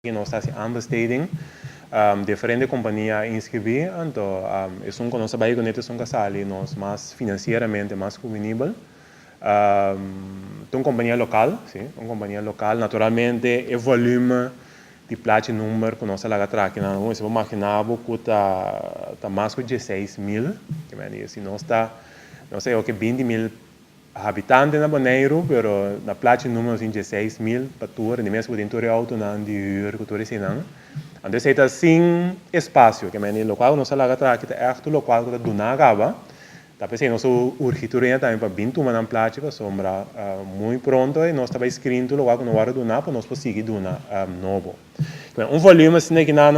y nos ta haci aanbesteding diferente compania a inscribi anto esun cu nos ta bay cu net esun cu a sali nos mas financieramente mas cuvinibel ta un compania local si un compania local naturalmente e volume di plachi number cu nos ta laga traha kinan awor si bo magina bo cu ta ta mas cu dieseis mil kimen y si nos ta nos ta yor cu binti mil Habitante na Boneiru pero na plachi numero nos tin dje seis mil pa tur en di mes bo tin tur e outonan di hür ku tur eseinan anto esei ta sin espasio ke mende lokual ku nos ta laga ta aki ta èf tur lokual ku ta duna kaba ta p'esei nos ta urgi tur hende tambe pa bin tuma nan plachi pasobra muy pronto nos ta bai skrin tur lokual ku no wòrdu duna pa nos por sigui duna nobo. Bueno, un volüme asina ki nan,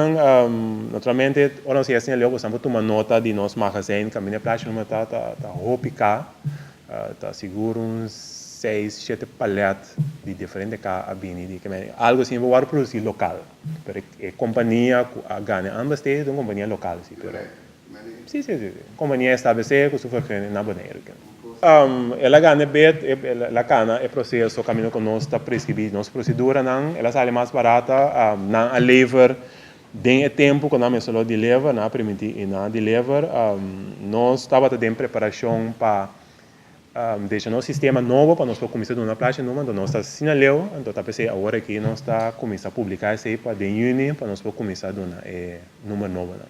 naturalmente ora nos yesa na e leu boso nan por tuma nota di nos magazijn, kaminda e plachi nomber ta ta hopi ka, ta sigur un seis, shete palèt di diferente ka a bini di kimen, algu asina bo wòrdu produsí lokal, pero e kompania ku a gana e ambas te ta un kompania lokal sí pero. Si, si, si, si. Kompania establesé ku su vergunning na Boneiru ke. El a gana e bid, el a kana e proseso kaminda ku nos ta preskribí nos proseduranan, el a sali mas barata, nan a lever den e tempu ku nan mester lo di lever, nan a permití i nan a di lever. Nos tabata den preparashon pa. Desha nos sistema nobo pa nos por kuminsá duna plachi numa, anto nos ta asina leu, anto ta p'esei awor aki nos ta kuminsá publiká esei pa den yüni pa nos por kuminsá duna e number nobonan.